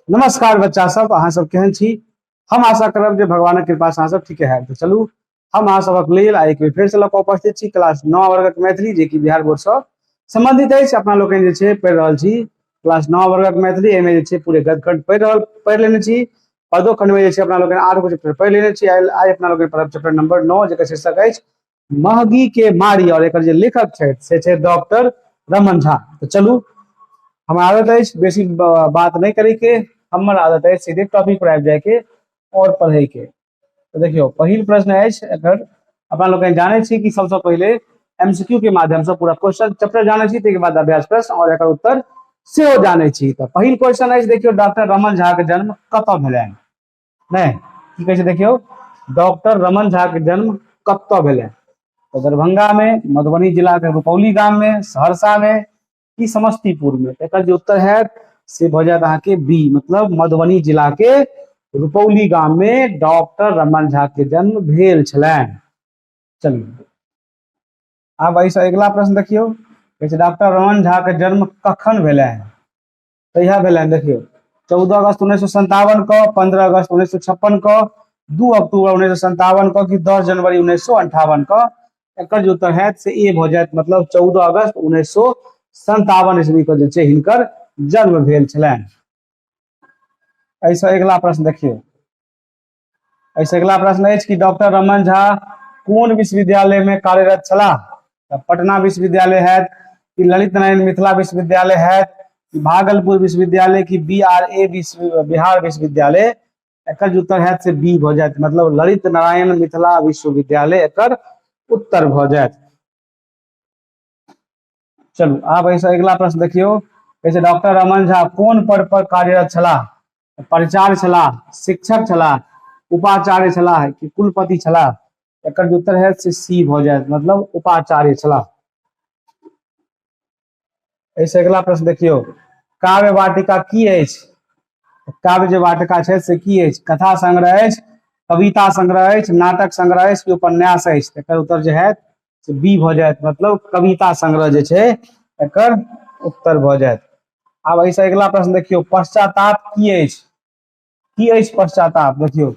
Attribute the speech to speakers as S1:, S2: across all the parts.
S1: नमस्कार बच्चा सब अहाँ सब केहन छी हम आशा करब जे भगवानक कृपा से अहाँ सब ठीके है तो चलू हम अहाँ सबक लेल आ एक बेर फेर से लऽ कऽ उपस्थित छी क्लास नौ वर्गक मैथिली जे कि बिहार बोर्ड से संबंधित अछि अपना लोकनि जे छै पढ़ि रहल छी क्लास नौ वर्गक मैथिली एहिमे जे छै पूरे गदखंड पढ़ि रहल पढ़ि लेने छी पदो खंड में जे छै अपना लोकनि आठ गो चैप्टर पढ़ि लेने छी आइ आइ अपना लोकनि पढ़ब चैप्टर नंबर नौ जेकर शीर्षक अछि महगी के मारी और एक जे लेखक छथि से छथि डॉक्टर रमन झा तो चलू हमर आदत अछि बेसी बात नहीं करे के हमर आदत अछि सीधे टॉपिक पर आबि जाय के और पढ़े के तो देखियो पहिल प्रश्न अछि एकर अपना लोग जाने छी कि सबसे पहले एमसीक्यू के माध्यम से पूरा क्वेश्चन चैप्टर जाने छी ताहिके बाद अभ्यास प्रश्न और एक उत्तर सेहो जाने छी तो पहिल क्वेश्चन अछि देखियो डॉक्टर रमन झा के जन्म कत भेलनि नहि की कहै छै देखियौ डॉक्टर रमन झा के जन्म कतऽ भेलै तऽ दरभंगा मे मधुबनी जिला के रुपौली गाम मे सहरसा मे की समस्तीपुर मे एकर जे उत्तर हैत से भऽ जायत अहाँके बी मतलब मधुबनी जिला के रुपौली गाम मे डॉक्टर रमन झा के जन्म भेल छलनि चलिए आब एहिसँ अगिला प्रश्न देखियौ कहै छै डॉक्टर रमन झा के जन्म कखन भेलनि कहिया भेलनि देखियौ चौदह अगस्त उन्नैस सए सन्तावन कऽ पन्द्रह अगस्त उन्नैस सए छप्पन कऽ दू अक्टूबर उन्नैस सए सन्तावन कऽ कि दस जनवरी उन्नैस सए अंठावन कऽ एकर जे उत्तर होयत से ए भऽ जायत मतलब चौदह अगस्त उन्नैस सए सन्तावन ईस्वी कऽ जे छै हिनकर जन्म भेल छलनि एहिसँ अगिला प्रश्न देखियौ एहिसँ अगिला प्रश्न अछि कि डॉक्टर रमन झा कोन विश्वविद्यालयमे कार्यरत छलाह तऽ पटना विश्वविद्यालय हैत कि ललित नारायण मिथिला विश्वविद्यालय हैत कि भागलपुर विश्वविद्यालय कि बी आर ए विश्व बिहार विश्वविद्यालय एकर जे उत्तर हैत से बी भऽ जायत मतलब ललित नारायण मिथिला विश्वविद्यालय एकर उत्तर भऽ जायत चलू आब एहिसँ अगिला प्रश्न देखियौ जैसे डॉक्टर रमन झा कोन पद पर कार्यरत छलाह प्रचार छलाह शिक्षक छलाह उपाचार्य छलाह कि कुलपति छलाह एक उत्तर है से सी भ जाए मतलब उपाचार्य छलाह ऐसे अगला प्रश्न देखियो काव्य वाटिका की काव्य जो वाटिका है से की कथा संग्रह कविता संग्रह नाटक संग्रह कि उपन्यास उत्तर जो है से बी भऽ जायत मतलब कविता संग्रह जे छै एकर उत्तर भऽ जायत आब एहिसँ अगिला प्रश्न देखियौ पश्चाताप की अछि की अछि पश्चाताप देखियौ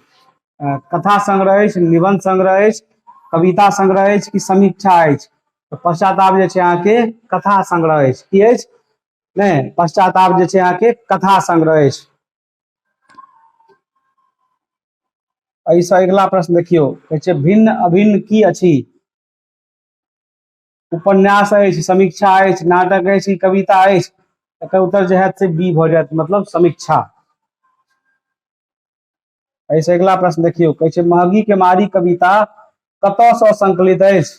S1: कथा संग्रह अछि निबंध संग्रह अछि कविता संग्रह अछि कि समीक्षा अछि तऽ पश्चाताप जे छै अहाँके कथा संग्रह अछि की अछि नहि पश्चाताप जे छै अहाँके कथा संग्रह अछि एहिसँ अगिला प्रश्न देखियौ कहै छै भिन्न अभिन्न की अछि उपन्यास अछि समीक्षा अछि नाटक अछि कविता अछि एकर उत्तर जे हैत से बी भऽ जायत मतलब समीक्षा एहिसँ अगिला प्रश्न देखियौ कहै छै महगी के मारी कविता कतयसँ संकलित अछि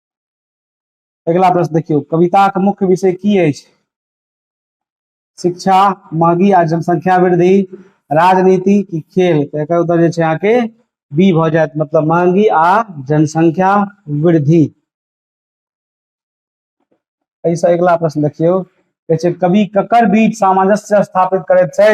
S1: अगिला प्रश्न देखियौ कविताक मुख्य विषय की अछि शिक्षा महगी आ जनसंख्या वृद्धि राजनीति की खेल तो एक उत्तर जो यहाँ के बी भ जाए मतलब महंगी आ जनसंख्या वृद्धि ऐसा अगला प्रश्न देखियो कवि ककर बीच सामंजस्य स्थापित करते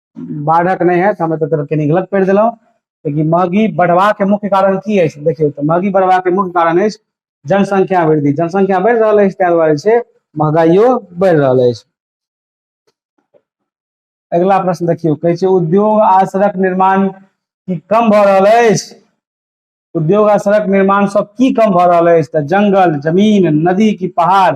S1: बाढ़क नहि होयत हम एतऽ तरफ कनी गलत पढ़ि देलहुँ लेकिन महगी बढ़बाके मुख्य कारण की अछि देखियौ तऽ महगी बढ़बाके मुख्य कारण अछि जनसंख्या वृद्धि जनसंख्या बढ़ि रहल अछि ताहि दुआरे छै महगाइयो बढ़ि रहल अछि अगिला प्रश्न देखियौ कहै छै उद्योग आ सड़क निर्माण की कम भऽ रहल अछि उद्योग आ सड़क निर्माण सब की कम भऽ रहल अछि तऽ जंगल जमीन नदी की पहाड़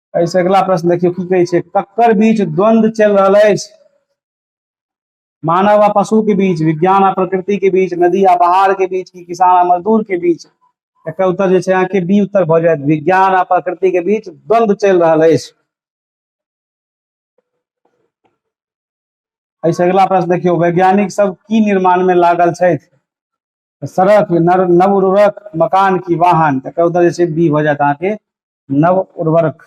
S1: एहिसँ अगिला प्रश्न देखियौ की कहै छै ककर बीच द्वंद्व चलि रहल अछि मानव आ पशु के बीच विज्ञान आ प्रकृति के बीच नदी आ पहाड़ के बीच की किसान आ मजदूर के बीच एकर उत्तर जे छै अहाँके बी उत्तर भऽ जायत विज्ञान आ प्रकृति के बीच द्वंद्व चलि रहल अछि एहिसँ अगिला प्रश्न देखियौ वैज्ञानिक सब की निर्माण में लागल छथि सड़क नव उर्वरक मकान की वाहन एकर उत्तर जे छै बी भऽ जायत अहाँके नव उर्वरक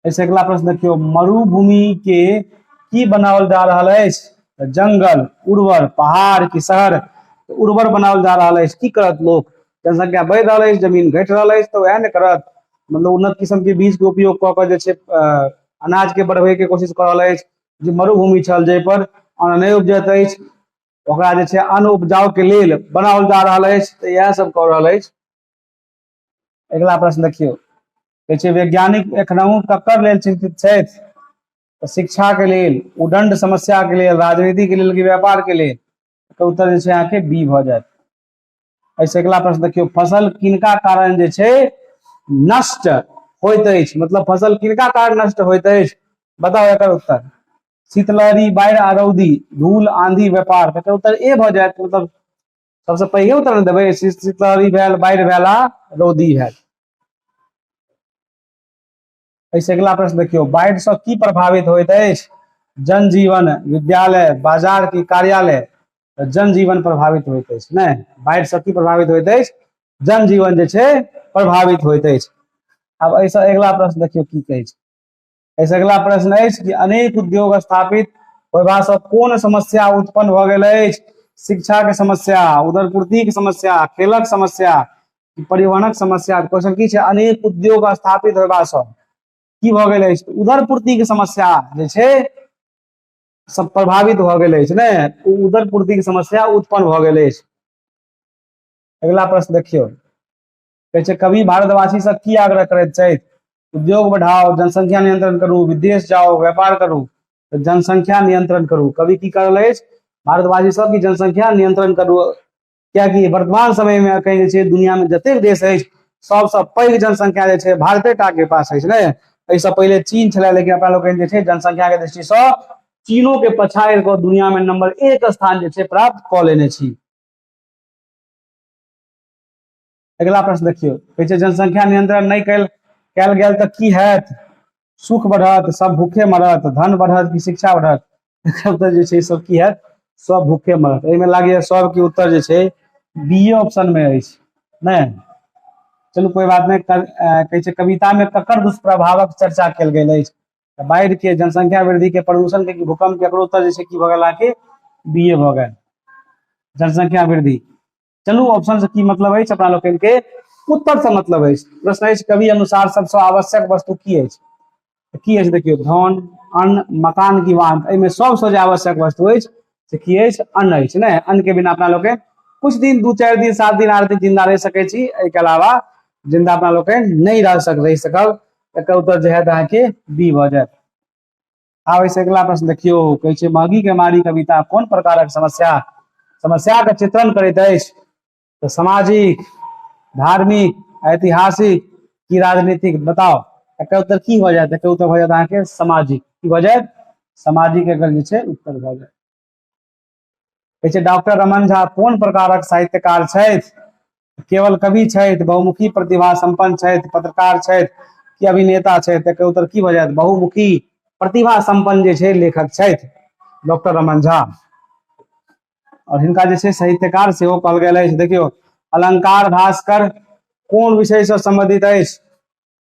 S1: ऐसे अगला प्रश्न देखियो मरुभूमि के की बनावल जा रहा है तो जंगल उर्वर पहाड़ की शहर तो उर्वर बनावल जा रहा है की करत लोग जनसंख्या बढ़ रहा है जमीन घट रहा है तो वह न करत मतलब उन्नत किस्म के बीज के उपयोग कऽ कऽ जे छै अनाज के बढ़बे के कोशिश कर रहा है जे मरुभूमि छल जाहि पर अन्न नहि उपजत अछि ओकरा जे छै अन्न उपजाउ के लेल बनाओल जा रहल अछि तऽ इएह सब कऽ रहल अछि अगिला प्रश्न देखियौ कहै छै वैज्ञानिक एखनहु ककर लेल चिंतित छथि तऽ शिक्षाके लेल उदंड समस्याके लेल राजनीतिके लेल कि व्यापारके लेल एकर उत्तर जे छै अहाँके बी भऽ जायत एहिसँ अगिला प्रश्न देखियौ फसल किनका कारण जे छै नष्ट होइत अछि मतलब फसल किनका कारण नष्ट होइत अछि बताउ एकर उत्तर शीतलहरी बाढ़ि आ रौदी धूल आंधी व्यापार एकर उत्तर ए भऽ जायत मतलब सबसे पहिले उतर ने देबै शीतलहरी भेल बाढ़ि भेल आ रौदी भेल ऐसे अगला प्रश्न देखियो बाढ़ से की प्रभावित होइत अछि जनजीवन विद्यालय बाजार की कार्यालय तऽ जनजीवन प्रभावित होइत अछि नहि बाढ़ि से की प्रभावित होइत अछि जनजीवन जे छै प्रभावित होइत अछि आब ऐसे अगला प्रश्न देखियो की कहै छै एहिसँ अगिला प्रश्न अछि कि अनेक उद्योग स्थापित होयबासँ कोन समस्या उत्पन्न भऽ गेल अछि शिक्षाके समस्या उदरपूर्तिके समस्या खेलक समस्या परिवहनक समस्या क्वेश्चन की छै अनेक उद्योग स्थापित होयबासँ की भऽ गेल अछि उदरपूर्तिके समस्या जे छै सब प्रभावित भऽ गेल अछि ने उदरपूर्तिके समस्या उत्पन्न भऽ गेल अछि अगिला प्रश्न देखियौ कहै छै कवि भारतवासीसँ की आग्रह करैत छथि उद्योग बढ़ाओ जनसंख्या नियंत्रण करू विदेश जाओ व्यापार करू तऽ जनसंख्या नियंत्रण करू कवि की कर रहल अछि भारतवासी सबकी जनसंख्या नियंत्रण करू कियाकि वर्तमान समय में अखन जे छै दुनियामे जतेक देश अछि सबसँ पैघ जनसंख्या जे छै भारते टा के पास अछि ने एहिसँ पहिले चीन छलै लेकिन अपना लोकनि जे छै जनसंख्याके दृष्टिसँ चीनोके पछाड़ि कऽ दुनियामे नंबर एक स्थान जे छै प्राप्त कऽ लेने छी अगिला प्रश्न देखियौ कहै छै जनसंख्या नियंत्रण नहि कयल कयल गेल तऽ की हैत सुख बढ़त सब भूखे मरत धन बढ़त कि शिक्षा बढ़त एकर उत्तर जे छै सब की हैत सब भूखे मरत एहिमे लागैए सबके उत्तर जे छै बी ऑप्शनमे अछि नहि चलू कोई बात नहीं कहे छै कविता में ककर दुष्प्रभावक चर्चा कल गई तो बाढ़ के जनसंख्या वृद्धि के प्रदूषण के भूकंप के उत्तर जैसे की भगल आके बीए भगल जनसंख्या वृद्धि चलू ऑप्शन से की मतलब अछि अपना लोकनि के उत्तर से मतलब अछि प्रश्न अछि कवि अनुसार सबसे आवश्यक वस्तु की अछि तऽ की अछि देखियौ धन अन्न मकान की वाहन एहिमे सबसँ जे आवश्यक वस्तु अछि से की अछि अन्न अछि ने अन्न के बिना अपना लोकनि कुछ दिन दू चारि दिन सात दिन आठ दिन जिंदा रहि सकै छी एहिके अलावा जिंदा अपना लोकनि नहि रह सक रहि सकब एकर उत्तर जे है अहाँके बी भऽ जायत आब एहिसँ अगिला प्रश्न देखियौ कहै छै महगी के मारी कविता कोन प्रकारक समस्या समस्या के चित्रण करैत अछि तऽ सामाजिक धार्मिक ऐतिहासिक की राजनीतिक बताओ एकर उत्तर की हो जाए एकर उत्तर हो जाए अहाँके सामाजिक की हो जाए सामाजिक एकर जे छै उत्तर भऽ जाए कहै छै डॉक्टर रमन झा कोन प्रकारक साहित्यकार छथि केवल कवि छथि बहुमुखी प्रतिभा सम्पन्न छथि पत्रकार छथि कि अभिनेता छथि तकर उत्तर की भऽ जायत बहुमुखी प्रतिभा सम्पन्न जे छै लेखक छथि डॉक्टर रमन झा और हिनका जे छै साहित्यकार सेहो कहल गेल अछि देखियौ अलंकार भास्कर कोन विषय से सम्बन्धित अछि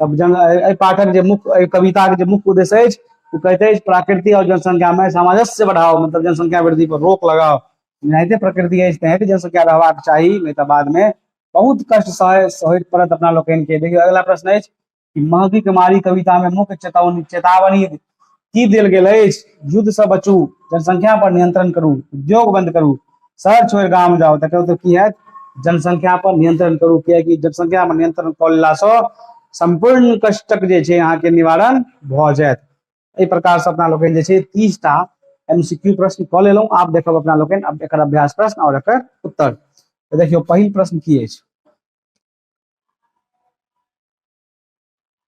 S1: तब जन एहि पाठक जे मुख्य एहि कविताके जे मुख्य उद्देश्य अछि ओ कहते अछि प्रकृति और जनसंख्या में सामंजस्य बढ़ाओ मतलब जनसंख्या वृद्धि पर रोक लगाओ एनाहिते प्रकृति अछि तेनाहिते जनसंख्या रहबाक चाही नहीं तो बाद में बहुत कष्ट सह सहैत पड़त अपना लोकनिके देखियौ अगला प्रश्न अछि कि महगी कुमारी कविता में मुख्य चेतावनी चेतावनी की देल गेल अछि युद्ध से बचू जनसंख्या पर नियंत्रण करू उद्योग बंद करू शहर छोड़ गाम जाओ तक तो की है जनसंख्या पर नियंत्रण करू कियकि जनसंख्या पर नियंत्रण कऽ लेलासँ सम्पूर्ण कष्टक जे छै अहाँके निवारण भऽ जायत एहि प्रकारसँ अपना लोकनि जे छै तीसटा एमसीक्यू प्रश्न कऽ लेलहुँ आब देखब अपना लोकनि अब एकर अभ्यास प्रश्न और एकर उत्तर देखियो पहिल प्रश्न की अछि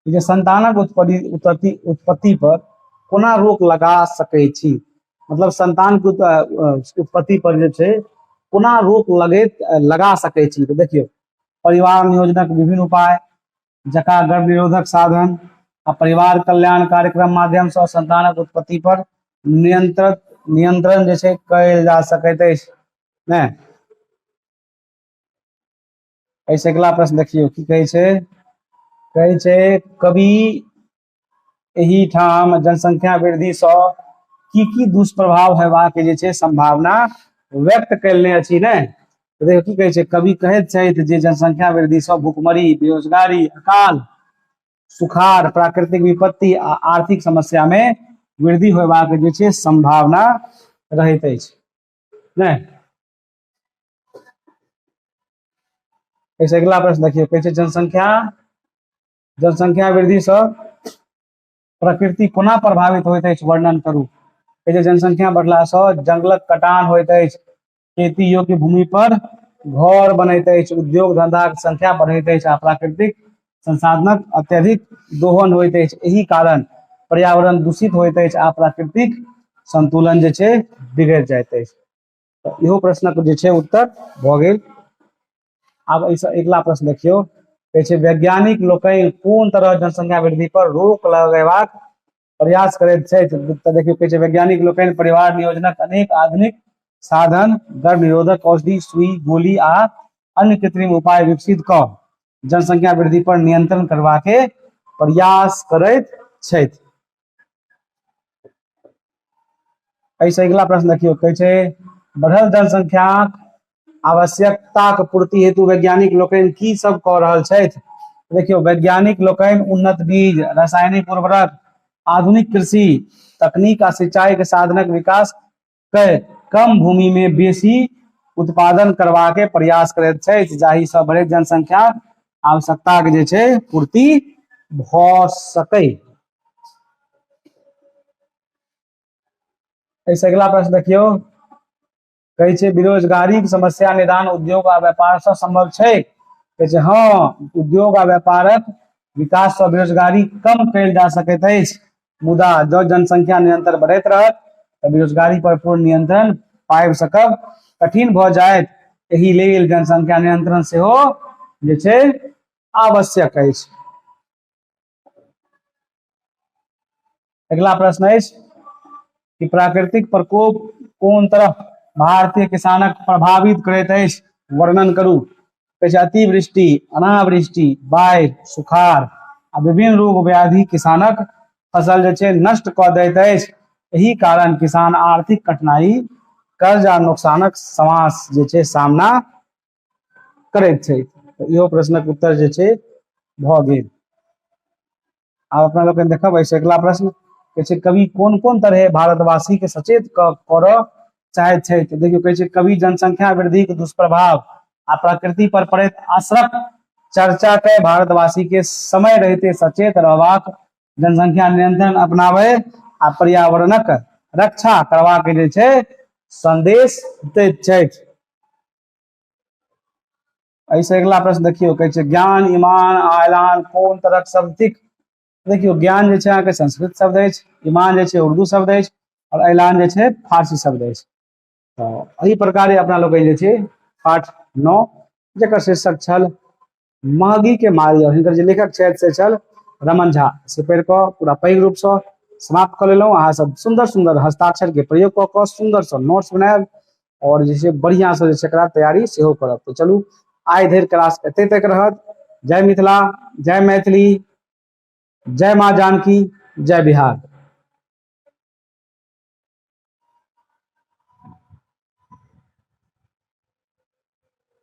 S1: जे संतानक उत्पत्ति उत्पत्ति उत्पत्ति पर कोना रोक लगा सकै छी मतलब संतान के उत्पत्ति पर जे छै कोना रोक लगैत लगा सकै छी तऽ देखियौ परिवार नियोजनक विभिन्न उपाय जका गर्भ निरोधक साधन आ परिवार कल्याण कार्यक्रम माध्यम से संतानक उत्पत्ति पर नियंत्रण नियंत्रण जे छै कयल जा सकैत अछि ने एहिसँ अगिला प्रश्न देखियौ की कहै छै कहै छै कवि एहिठाम जनसंख्या वृद्धिसँ की की दुष्प्रभाव हेबाक जे छै संभावना व्यक्त कयलने अछि ने तऽ देखियौ की कहै छै कवि कहैत छथि जे जनसंख्या वृद्धिसँ भुखमरी बेरोजगारी अकाल सुखाड़ प्राकृतिक विपत्ति आ आर्थिक समस्यामे वृद्धि होयबाक जे छै संभावना रहैत अछि नहि एहिसँ अगिला प्रश्न देखियौ कहै छै जनसंख्या जनसंख्या वृद्धिसँ प्रकृति कोना प्रभावित होइत अछि वर्णन करू कहै छै जनसंख्या बढ़लासँ जंगलक कटान होइत अछि खेती योग्य भूमि पर घर बनैत अछि उद्योग धंधाक संख्या बढ़ैत अछि आ प्राकृतिक संसाधनक अत्यधिक दोहन होइत अछि एहि कारण पर्यावरण दूषित होइत अछि आ प्राकृतिक संतुलन जे छै बिगड़ि जाइत अछि इहो प्रश्नक जे छै उत्तर भऽ गेल आब एहिसँ अगिला प्रश्न देखियौ कहै छै वैज्ञानिक लोकनि कोन तरह जनसंख्या वृद्धि पर रोक लगेबाक प्रयास करैत छथि तऽ देखियौ कहै छै वैज्ञानिक लोकनि परिवार नियोजनक अनेक आधुनिक साधन गर्भ निरोधक औषधि सुई गोली आ अन्य कृत्रिम उपाय विकसित कऽ जनसंख्या वृद्धि पर नियंत्रण करबाके प्रयास करैत छथि एहिसँ अगिला प्रश्न देखियौ कहै छै बढ़ल जनसंख्याक आवश्यकताक पूर्ति हेतु वैज्ञानिक लोकनि की सब कऽ रहल छथि देखियौ वैज्ञानिक लोकनि उन्नत बीज रासायनिक उर्वरक आधुनिक कृषि तकनीक आ सिंचाई के साधनक विकास कए कम भूमि में बेसी उत्पादन करबाक प्रयास करैत छथि जाहिसँ बढ़ैत जनसंख्या आवश्यकताक जे छै पूर्ति भ सकै एहिसँ अगिला प्रश्न देखियौ कहै छै बेरोजगारीक समस्या निदान उद्योग आ व्यापारसँ सम्भव छै कहै छै हँ उद्योग आ व्यापारक विकाससँ बेरोजगारी कम कयल जा सकैत अछि मुदा जब जनसंख्या निरंतर बढ़ैत रहत तऽ बेरोजगारी पर पूर्ण नियंत्रण पाबि सकब कठिन भऽ जायत एहि लेल जनसंख्या नियंत्रण सेहो जे छै आवश्यक अछि अगिला प्रश्न अछि कि प्राकृतिक प्रकोप कोन तरह भारतीय किसानक प्रभावित करैत अछि वर्णन करू कहै छै अतिवृष्टि अनावृष्टि बाढ़ि सुखाड़ आ विभिन्न रोग व्याधि किसानक फसल जे छै नष्ट कऽ दैत अछि एहि कारण किसान आर्थिक कठिनाई कर्ज आ नुकसानक समास जे छै सामना करैत छै इहो प्रश्नक उत्तर जे छै भऽ गेल आब अपना लोकनि देखब एहिसँ अगिला प्रश्न कहै छै कवि कोन कोन तरहे भारतवासीके सचेत करऽ चाहैत छथि देखियौ कहै छै कवि जनसंख्या वृद्धिक दुष्प्रभाव आ प्रकृति पर पड़ैत असरक चर्चा के भारतवासी के समय रहते सचेत रहबाक जनसंख्या नियंत्रण अपनावे आ पर्यावरणक रक्षा करबाक जे छै संदेश दैत छथि एहिसँ अगिला प्रश्न देखियौ कहै छै ज्ञान ईमान आ ऐलान कोन तरहक शब्द थिक देखियौ ज्ञान जे छै अहाँके संस्कृत शब्द अछि ईमान जे छै उर्दू शब्द अछि आओर ऐलान जे छै फारसी शब्द अछि तऽ एहि प्रकारे अपना लोकनि जे छै पाठ नओ जकर शीर्षक छल मागी के मारी और हिनकर जे लेखक छथि से छल रमन झा से पढ़ि कऽ पूरा पैघ रूपसँ समाप्त कऽ लेलहुँ अहाँ सब सुन्दर सुन्दर हस्ताक्षर के प्रयोग कऽ कऽ सुन्दर सँ नोट्स बनायब और जे छै बढ़िया सँ जे छै एकरा तैयारी सेहो करब तऽ चलू आइ धरि क्लास एते तक रहत जय मिथिला जय मैथिली जय माँ जानकी जय बिहार